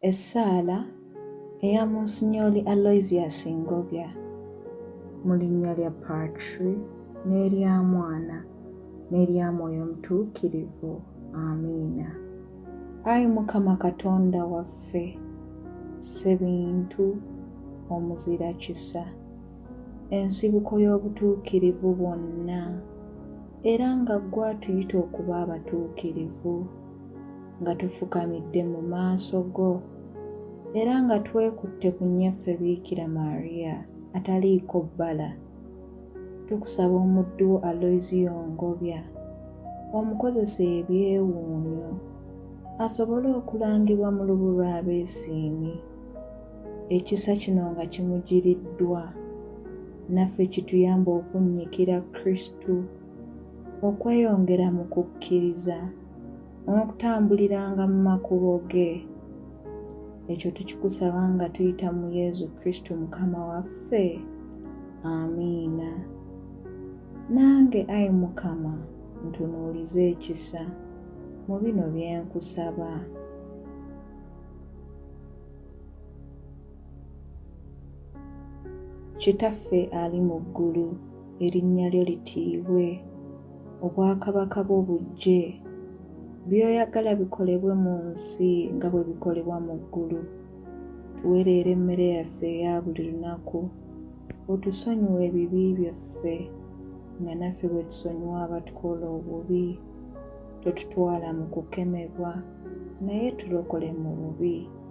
Essaala eya Munsinyooli Aloysius Ngobya. Mu linnya lya Patri, n'erya Mwana, n'erya Mwoyo Mutuukirivu. Amiina. Ayi Mukama Katonda waffe, Ssebintu, Omuzira kisa, ensibuko y'obutuukirivu bwonna, era nga ggwe atuyita okuba abatuukirivu. nga tufukamidde mu maaso go era nga twekutte ku nnyaffe Biikira Maria ataliiko bbala. Tukusaba omuddu wo Aloysiyo Ngobya omukozese ebyewuunyo asobole okulangibwa mu lubu lw'abeesiimi. Ekisa kino nga kimugiriddwa, naffe kituyambe okunnyikira Kristu. okweyongera mu kukkiriza n'okutambuliranga mu makubo ge ekyo tukikusaba nga tuyita mu yesu kristo mukama waffe amiina nange ayi mukama ntunuulize ekisa mu bino byenkusaba Kitaffe ali mu ggulu, erinnya lyo litiibwe, obwakabaka bwo bujje, by'oyagala bikolebwe mu nsi nga bwe bikolebwa mu ggulu. Tuwereera emmere yaffe eya buli lunaku, otusonyiwe ebibi byaffe nga naffe bwe tusonyiwa abatukola obubi. Totutwala mu kukemebwa, naye tulokole mu bubi.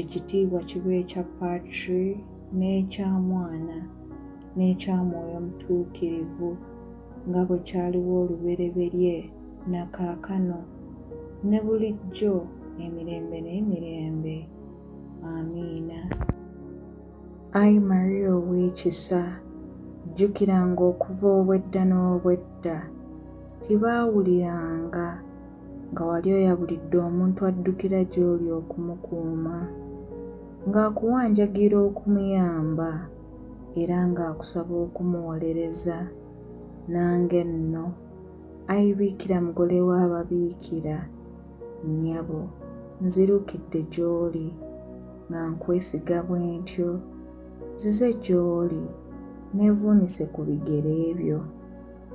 ekitiibwa kiba ekya patri n'ekya mwana n'ekya mwoyo mutuukirivu nga bwe kyaliwo olubereberye na kaakano ne bulijjo emirembe n'emirembe amiina ayi maria ow'ekisa jjukiranga okuva obwedda n'obwedda tibaawuliranga nga wali oyabulidde omuntu addukira gy'oli okumukuuma, ng'akuwanjagira okumuyamba era ng'akusaba okumuwolereza, nange nno, Ayi Biikira Mugole w'Ababiikira, nnyabo, nzirukidde gy'oli nga nkwesiga bwentyo, nzize gy'oli neevuunise ku bigere byo.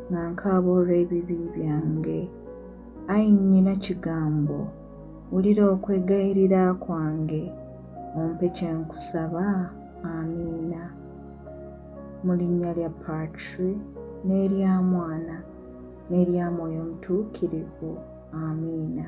nga nkaaba olw'ebibi byange. Ai Nnyina Kigambo, wulira okwegayirira kwange, ompe kye nkusaba. Amiina. Mu linnya lya Patri, n'erya Mwana, n'erya Mwoyo Mutuukirivu. Amiina.